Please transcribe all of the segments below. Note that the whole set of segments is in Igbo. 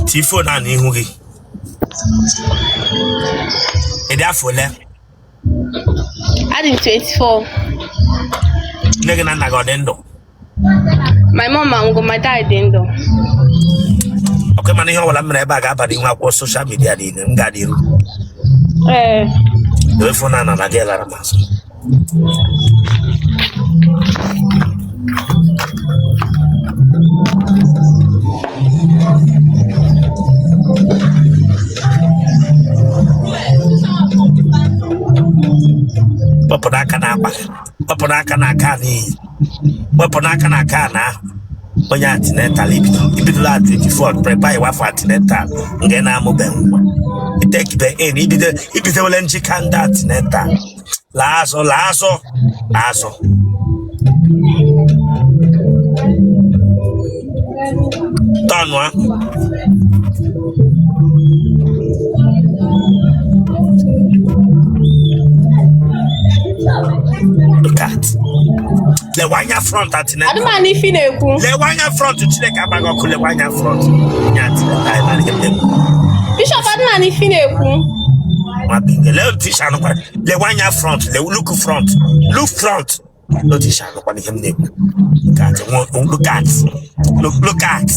tii phone a n'ihu gị ị dị afọ ole Adị m 24. nne gị na nna gị ọ dị ndụ My mom anwụgo, my dad dị ndụ. okay mana ihe ọbụla m mere ebe a ga-aba n'ihu akwụkwọ social media niile m ga-adị iru Ee. were phone a na na gị lara m azụ wepụrụ aka n'akpa wepụrụ aka n'aka a n'iyi wepụrụ aka n'aka a na onye antenatal ibido ibidola at 24 preparewa for antenatal nke na-amụbeghị nwa ị takebe in ibido ibidowele njike ndị antenatal laa azụ laa azụ laa azụ turnụa look at lewe anya front atinye adị m anụ ife ị na-ekwu lewe anya front chineke agba gị ọkụ lewe anya front ya atinye bishop adị m anụ ife ị na-ekwu nwa bekee lee otu isi anụkwa lewe anya front lewe look front look front lee otu isi anụkwa ihe m na-ekwu Look at, nwa- look at look look at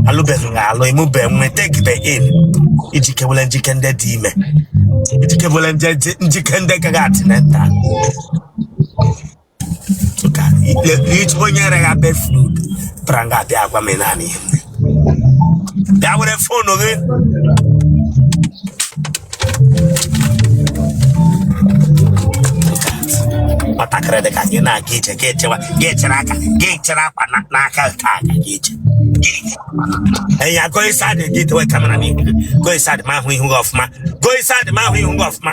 alụbe gị alụ ịmụbe nwa takebe in ijikewele njike ndị dị ime ijikewele nje- njike ndị ga antenatal onye rere ha befrud pụtara nga a bịa agwa m naanị ihe bịa were phone gị nwatakịrị dị ka gị na-aga ije gị echewa gị echere aka gị echere akwa n'aka nke aka gị ije enya go inside gị dewe camera n'ihu go inside ma ahụ ihu gị ọfụma go inside ma ahụ ihu gị ọfụma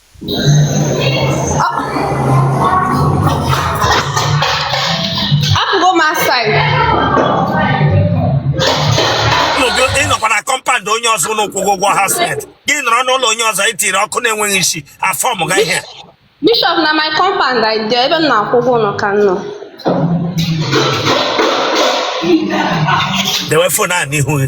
apụgo m outside ịnọkwa na compound onye ọzọ ụlọ kwụgo ụgwọ house rent gị nọrọ n'ụlọ onye ọzọ itiri okwu na-enweghị isi ị form guy here bishop na my compound i dị ebe m na-akwụ ụgwọ ụlọ ka m nọ dewe phone a n'ihu gị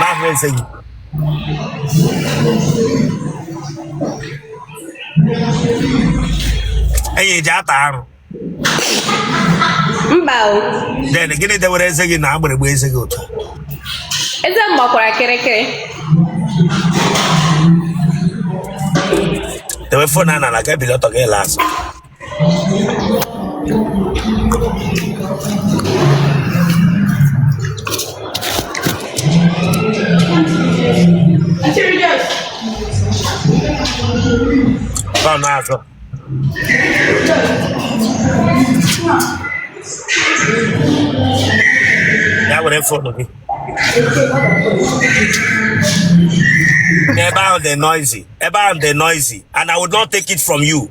n'ahụ eze gị enyi eji ata arụ mba o then gịnị dewere eze gị na agbịrịgba eze gị otu eze m gbakwara kịrịkịrị dewe phone a n'ala ka i bili ọtọ gị laa azụ Tá nada. Ya were phone gị. Ebe ahụ dị noisy. Ebe ahụ dị noisy. And I would not take it from you.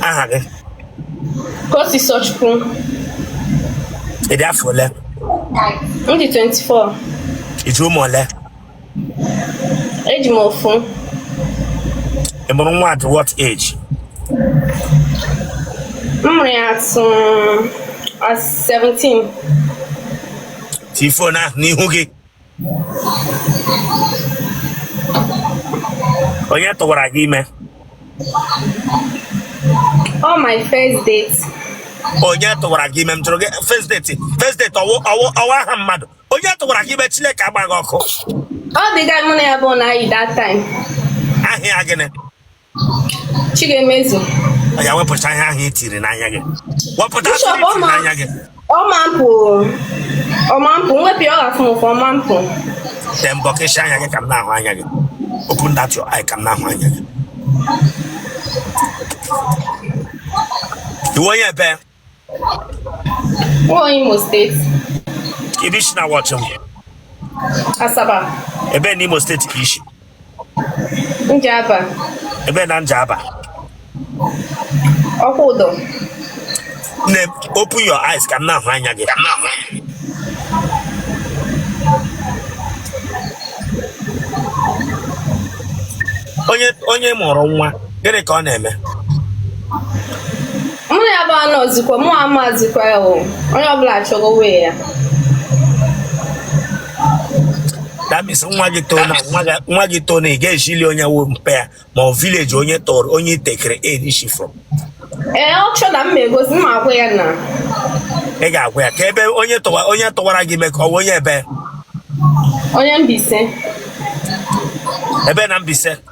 aha gị Kosisochukwu. ị dị afọ ole M dị 24. i ji ụmụ ole Eji m ofu. ị mụrụ nwa at what age M mụrụ ya at at 17. tii phone ahụ n'ihu gị onye tụwara gị ime ọ my first date onye tụwara gị ime m jụrụ gị first date first date ọ wụ ọ wụ ọ wụ aha mmadụ onye tụwara gị ime chineke agba gị ọkụ ọ the guy mụ na ya bụ na-ayi that time aha ya gịnị Chigemezu oya wepụta ihe ahụ i tiri n'anya gị wepụta n'anya gị ọmampụ ọmampụ m wepụ ọ ga-afụ m ụfụ ọmampụ then bọkeshi anya gị ka m na-ahụ anya gị open that your eye ka m na-ahụ anya gị ị wụ onye ebe Nwa Imo State. Kedu ebe i si na-watch m? Asaba. Ebe na Imo State ka i si? Njaba. Ebe na Njaba? Okwudor. Nne, open your eyes ka m na-ahụ anya gị. Onye onye mụrụ nwa, gịnị ka ọ na-eme? mụ ya bụ anọzikwa mụ amazikwa ya o onye ọbụla chọrọ wee ya that means nwa gị too na nwa gị too na ị ga-ejili onye wụ mpa ya ma ọ village onye tọrọ onye itekere erishi from ee ọ chọ na m ma egosi m agwa ya na ị ga-agwa ya ka ebe onye tụwa onye tụwara gị ime ka ọ bụ onye ebe onye Mbaise ebe na Mbaise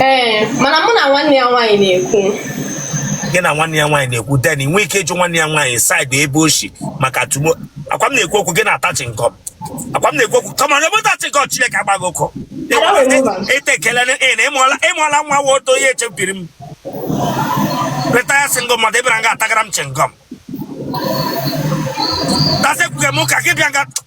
ee mana mụ na nwanne ya nwaanyị na-ekwu gị na nwanne ya nwaanyị na-ekwu then i nwee ike ịjụ nwanne ya nwaanyị side ebe o shi maka tomorrow ọkwa m na-ekwu okwu gị na-ata chingọm ọkwa m na-ekwu okwu kama na ebe ta chingọm chineke agba gị ọkụ ete ekele na ị na ị mụọla ị mụọla nwa wa oto ihe echebiri m retire single mother ị bịara nga atagara m chingọm that's ekwughị m ụka gị bịa nga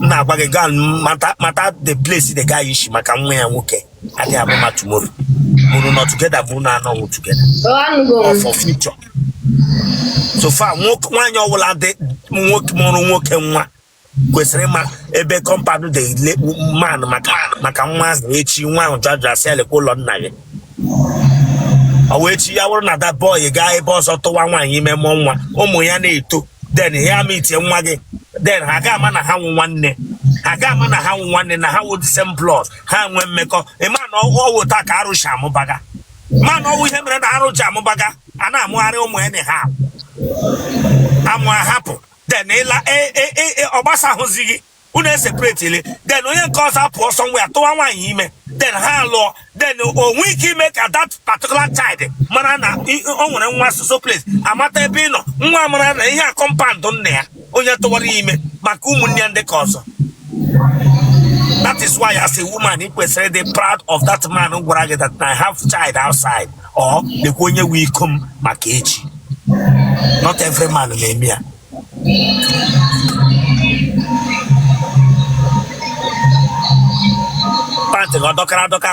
m na-agwa gị gaa mata mata the place the guy shi maka nwa ya nwoke adịghị ama ama tomorrow ma unu nọ together ma unu anọghị together Oh, anụgo m. for future so far nwoke nwaanyị ọbụla dị nwoke mụrụ nwoke nwa kwesịrị ịma ebe compound the man maka maka nwa ahụ echi nwa ahụ jụa ajụ a sị ya lekwa ụlọ nna gị ọ wụ echi ya bụrụ na that boy gaa ebe ọzọ tụwa nwaanyị ime mụọ nwa ụmụ ya na-eto then ya ameetie nwa gị then ha ga ama na ha wụ nwanne ha ga ama na ha wụ nwanne na ha wụ the same blood ha nwee mmekọ ị ma na ọ wụ otu a ka arụ shi amụbaga ma na ọ wụ ihe mere na arụ ji amụbaga a na-amụgharị ụmụ ya na ha amụ ahapụ then ị la ọ gbasa e, e, e, ahụzi gị unu eseparetiele then onye nke ọzọ apụ ọsọ nwa ya tụwa nwaanyị ime then ha alụọ then o nwee ike ime ka that particular child mara na o nwere nwa so so place amata ebe ị nọ nwa mara na ihe a compound nna ya onye tụwara ime maka ụmụnne ya ndị ka ọzọ that is why as a woman ị kwesịrị ịdị proud of that man gwara gị that I have child outside or lekwa onye nwe iko m maka echi not every man na-eme ya pant gị ọ dọkara adọka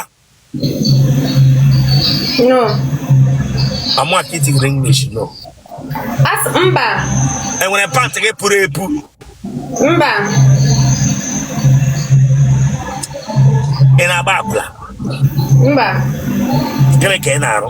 No. amụ aka itigiri english no asị mba. e nwere pant gị puru epu Mba. ị na-agba akwụla Mba. gịnị ka ị na-arụ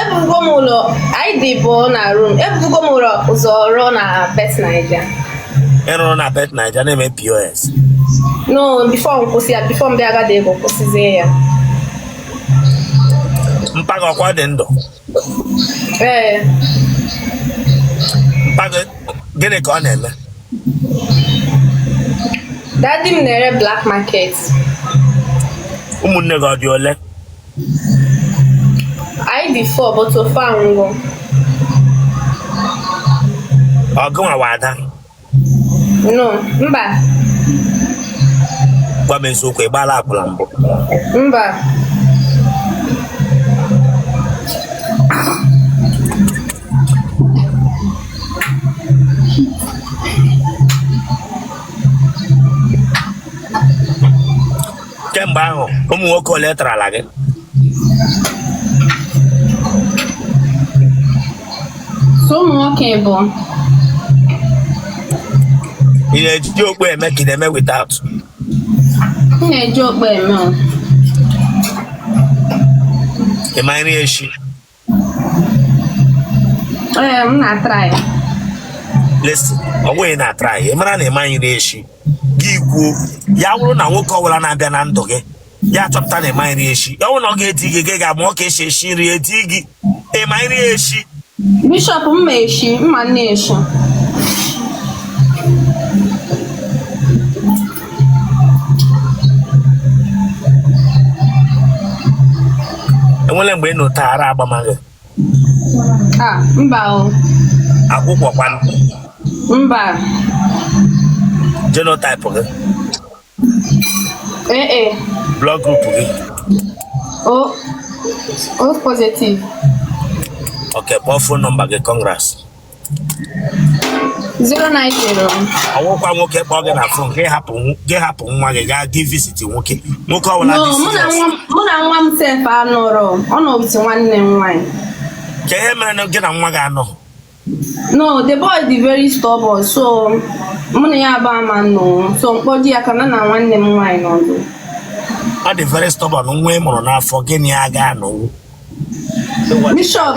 ebigo m ụlọ anyị dị abụọ na room ebugo m ụlọ ụzọ rụọ na bet naija ị rụrụ na bet naija na-eme pos no before m kwụsị ya before m bịa agada ego kwụsịzie ya mpa gị ọkwa dị ndụ ee mpa gị gịnị ka ọ na-eme daddy m na-ere black market ụmụnne gị ọ dị ole anyị dị four but ofu anwụgo ọ gị nwa wụ ada no mba gwa m eziokwu ị gbaala akwụla mbụ mba kemgbe ahụ ụmụ nwoke ole tarala gị so ụmụ nwoke bụ ị na-eji okpu eme ka ị na-eme without m na-eji okpu eme o. ị ma nri eshi Ee, m na-atry. listen ọ bụghị na-atry ị mara na ị maghị nri eshi gị kwuo ya bụrụ na nwoke ọbụla na-abịa na ndụ gị ya chọpụta na ị maghị nri eshi ọ bụrụ na ọ ga-edi gị gị gaa mụọ ka eshi eshi nri edi gị ị ma nri eshi Bishop m ma eshi, m ma nri eshi. enwere mgbe ị nọta ara agbama gị Ah, mba o. akwụkwụ kwanụ Mba. genotype gị AA. blood group gị O. O positive. ok kpọọ phone number gị congrats 090 ọ wụkwa nwoke kpọọ gị na phone gị hapụ nw- gị hapụ nwa gị gaa gị visit nwoke nwoke ọbụla no dị mụ na serious nwa m- mụ na nwa m sef anọrọ ọ nọ with nwanne m nwaanyị kee ihe mere na gị na nwa gị anọ no the boy dị very stubborn so mụ na ya abụọ ama nọ so m kpọje ya ka ya na nwanne m nwaanyị nọdụ ọ dị very stubborn nwa ị mụrụ n'afọ gị na ya ga-anọnwu bishop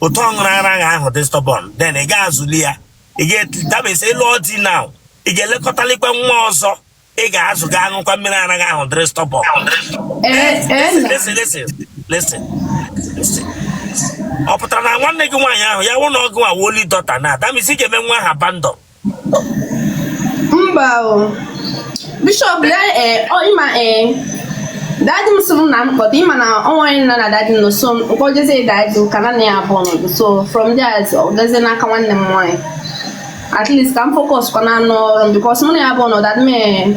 otu ọ ṅụrụ ara gị ahụ dị stubborn then ị ga-azụli ya ị ga- that means ị lụọ di na ị ga-elekọtalikwa nwa ọzọ ị ga-azụ ga-aṅụkwa mmiri ara gị ahụ dịrị stubborn ọ pụtara na nwanne gị nwaanyị ahụ ya wụ na ọgụ awoli dọta na that means ị ga-eme nwa ahụ abandon mba o bishop ya ee ọ ịma ee daddy m sịrị na m kpọta ịma na ọ nwere nna na daddy m nọ so m kpọjezie daddy m ka ya na ya abụọ nọ so from there ọ gazie n'aka nwanne m nwaanyị at least ka m focus kwanụ n'ọrụ m because mụ na ya abụọ nọ daddy m ee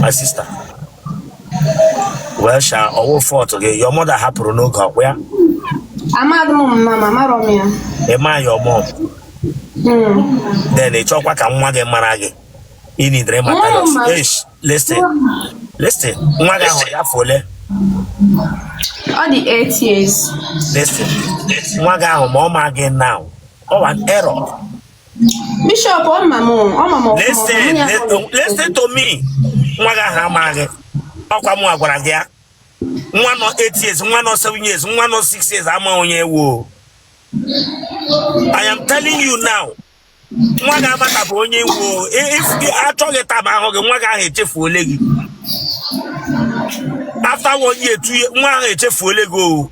my sister well sha ọ wụ fault gị your mother hapụrụ n'oge ọkwa ya amadị m mama m amarọ m ya ị ma your mom then ị chọkwa ka nwa gị mara gị ị needịrị ịmata Nwa ya m ma- Eish, listen listen nwa gị ahụ ya afọ ole ọ dị 8 years listen nwa gị ahụ ma ọ ma gị now ọ wụ an error Bishop ọ ma m ọ ma m ọfụma, listen ọ ma ya let- kpọrọ ya. listen to me nwa gị ahụ amaghị gị ọkwa mụ gwara gị ya nwa nọ 8 years nwa nọ 7 years nwa nọ 6 years ama onye ị wụ I am telling you now nwa gị amatabu onye ị wụ o. I- if gị achọghị time ahụ gị nwa gị ahụ echefuole gị after one year two year nwa ahụ echefuole gị o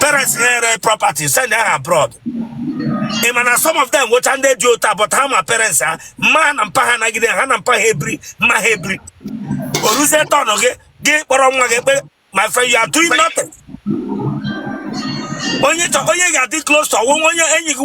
parents ha ere property send ha abroad ị ma na some of them nwecha ndị dị otu a but ha ma parents ha mma na mpa ha nọgide ha na mpa ha ebiri mma ha ebiri o ruzie turn gị gị kpọrọ nwa gị kpere my friend you are doing nothing onye onye ga-adị close to onwe onye enyi gị